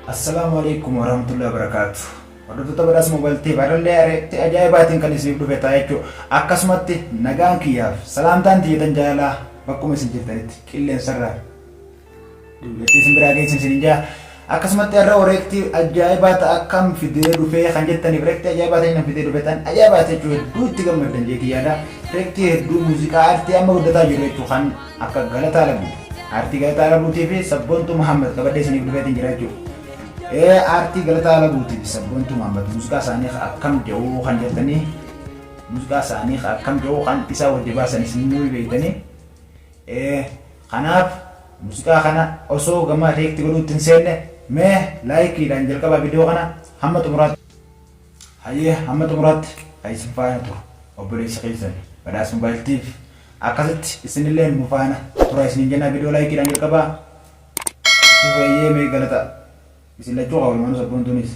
Assalaamu alaikum warahmatullahi wabarakaatu. Hordoftoota badhaasa moobaayil ta'e baarallee areetti ajaa'ibaatiin kan isiniif dhufe ta'a jechuudha. Akkasumatti nagaan kiyyaaf salaamtaan tiyyatan jaalalaa bakkuma isin jirtanitti qilleensarraa duubetti isin biraa geessin isin jaa. Akkasumatti har'a oreektii ajaa'ibaa ta'a akkam fidee dhufee kan jettaniif reektii ajaa'ibaa ta'e kan fidee dhufe tan ajaa'ibaa ta'e jechuudha hedduu itti gammaddan jee kiyyaadha. Reektii hedduu muuziqaa aartii amma guddataa jiru jechuudha kan Akka galataa rabbiiti. Aartii galataa rabuutii fi sabboontuu Muhammad qabadhee isiniif dhufeetiin jira jechuudha. Ee aartii galataa rabuutii fi sabboontuu Muhammad muuziqaa isaanii akkam jedhuu kan jettanii muuziqaa isaanii akkam jedhuu kan isaa wajji baasan isin nuyi beektanii. Ee kanaaf muuziqaa kana osoo gama reekti godhuutti hin seenne mee laayikiidhaan jalqabaa viidiyoo kana hamma xumuraatti. Hayyee hamma xumuraatti haa isin faana turu obboleessa keessan Badhaas Mobile Tv akkasitti isinilleen nu faana turaa isiniin jennaa video like dhaan jalqabaa itti fufee hayyee mee galata isin lachuu haa walumaanuu sabboontuunis.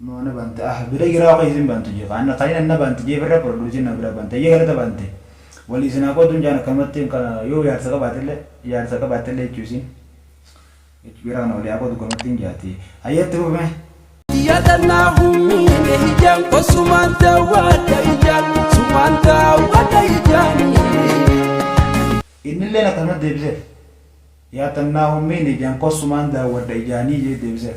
Mo na bante ah bira jira ok isin bantu je kan kan ina na bante je birra produce na bira bante ye galata bante wali isin haa qodu njaan akkanumatti ka yo jaarsa qabaatelle jaarsa qabaatelle jechu isin jechu bira kana wali haa qodu akkanumatti hin jaati hayye itti fufi me. Yadannaa humniine hijaan ko sumaan daawwadha ijaan sumaan daawwadha ijaanii. Innilleen akkasumatti deebiseef. Yaatannaa hummiin ijaan ko sumaan daawwadha ijaanii jee deebiseef.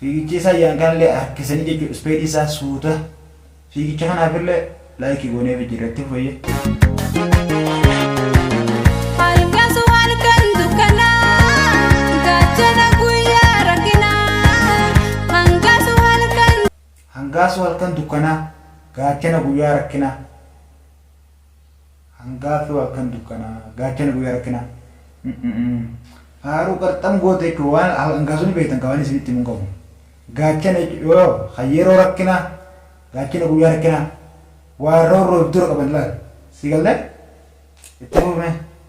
Fiigicha isaa jedhan kanallee harkisanii jechuudha ispeedii isaa suuta. Fiigicha kanaafillee laayikii gooneef jirra itti fufayya. Halkan sun halkan dukkanaa, gaachana guyyaa rakkinaa. Hangaa sun halkan. Hangaa sun halkan dukkanaa, gaachana guyyaa rakkinaa. Hangaa firoo halkan dukkanaa. Gaachana guyyaa rakkinaa. Faaruu qarxam goote jechuun waan hangaa sun beektan kan waan isinitti himuun qabu. Gaachana jechuun yoo kan yeroo rakkinaa gaachana guyyaa rakkinaa waan roorroof dura qaban laal. Si galle? Itti fufne.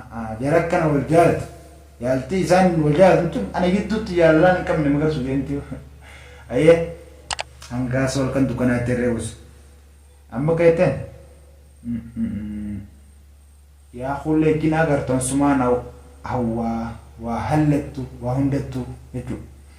A'aa jara akkana wal jaalatu jaaltii isaan wal jaalatan tun ana gidduutti jaalalaan hin qabne magarsu deemti aye hangaa sa halkan dukkanaa ittiin reebus amma keetten yaa kullee jina agartan sumaa na hawwaa waa hallattu waa hundattu jechuu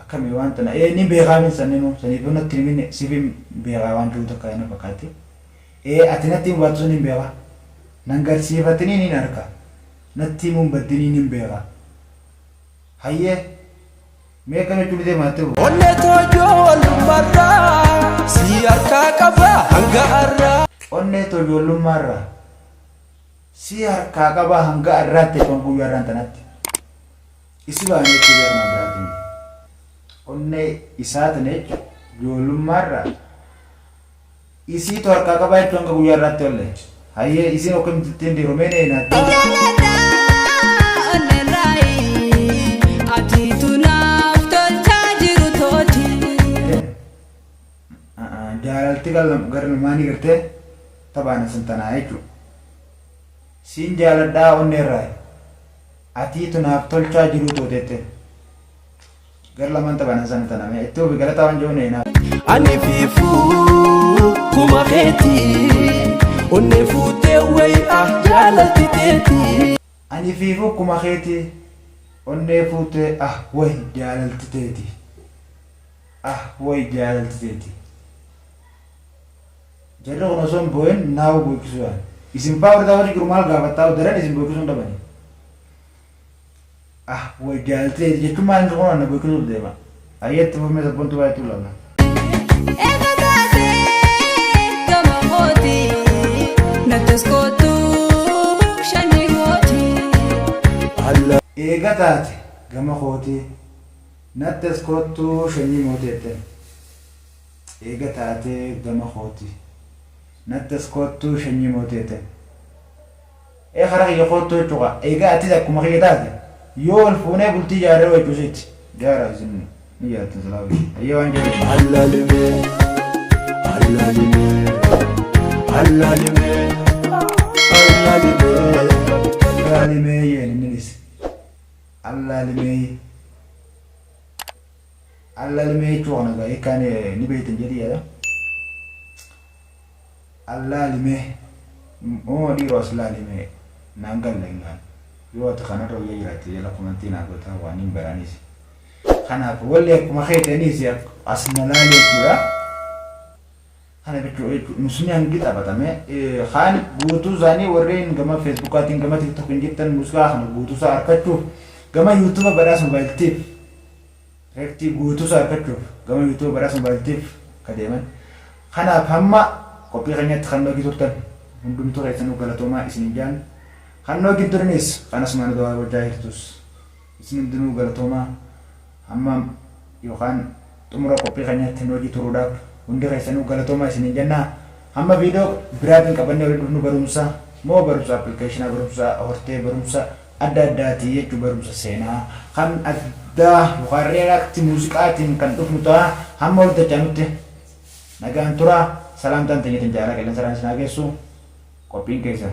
Akkami waan tana ee ni beekaa min sanninuu saniif yoo natti himin sifin beekaa waan jiru takka na fakkaatti ee ati natti himu baattu sanin beeka nan garsiifatini nin arka natti himuun baddinii nin beeka hayyee mee akkami jechuu ni deema atti fufa. Onnee too ijoollummarraa sii harkaa qaba hanga har'aa. Onnee too ijoollummaarraa sii harkaa qaba hanga har'aatti jechuun guyyaa har'aan tanatti. Isi baane jechuu gara nama biraatii miti. Onnee isaa tana jechuun ijoollummaa irraa isiitu harkaa qabaa jechuun hanga guyyaa irraatti ollee. Hayyee isiin akkamitti ittiin diromee na hinaaddee. Jaalalti gara namaa ni gartee taphaan isin tanaa jechuudha. Siin jaaladhaa onnee irraa. Atii tu naaf tolchaa jiruu too tete gar lamaan tabanan sanu tana mee itti ufi galataa wan joone naaf. Ani fiifuu kuma keeti onnee fuutee wayi ah jaalalti teeti. Ani fiifuu kuma keeti onnee fuutee ah wayi jaalalti teeti ah wayi jaalalti teeti. Jarri kun osoo hin boo'in Now boo'ichisuu yaalu. Isin faa warri taa'uutii jiru maal gaafattaa'u daran isin boo'ichisuu hin dhabani. Ah way jaalteeti jechuun maal inni kun anna boo'ichisuu deema. Ayyee itti fufmee sabboontuu baay'ee tuu laalla. Eega kaasee gama kooti nattos kootu shanni kooti. Eega taate gama kooti nattos kootu shanni mooti jetteen. Eega taatee gama kooti. Natti as koottuu shanyii mootee ten. Ee kara kiyya koottuu jechuu kaa. Eega atis akkuma kiyya taate. Yoo wal fuunee bultii jaarree hoo jechuu siiti. Jaara isin ni jaartan silaa wajji. Hayyee waan jedhu jira. Allalime, allalime, allalime, allalime. Allaalimee jeen inni dhise. Allaalimee. Allalime jechuu kana egaa hiikkaa ni ni beektan jedhee yaada. Allaalime uumama dhiiroo as laalime naan galle hin gaane. Yoo ati kanarra wayyaa jiraatte jala komantii naa gootaa waan hin baraniis. Kanaaf wallee akkuma keetaniis as na laali jechuudha. Kana jechuun jechuun muslimni hangi taphatame kaan guutuu isaanii warreen gama feesbuukaatiin gama tiktookiin jirtan muuziqaa kana guutuu isaa arkachuuf gama yuutuuba badhaasa mobaayiltiif reektii guutuu isaa arkachuuf gama yuutuuba badhaasa mobaayiltiif akka deeman kanaaf hamma qophii keenyatti kan noogi turtan hundumtuu keessanuu galatoomaa isiniin jaan kan noogi hin turiniis kan asumaan dawaa gochaa jirtus Isin hundinuu galatoomaa hamma yookaan xumura qophii keenyaatti nu wajji turuudhaaf hundi keessanuu galatoomaa isiniin jenna. Hamma viidiyoo biraatiin qabannee walitti dhufnu barumsa moo barumsa application barumsa hortee barumsa adda addaati jechuun barumsa seenaa kan addaa yookaan react muuziqaatiin kan dhufnu ta'a. Hamma walitti dachaanutti nagaan tura. Salaamtaan teenya tan jaalala qilleensarraan isin haa geessu. Qophiin keessan.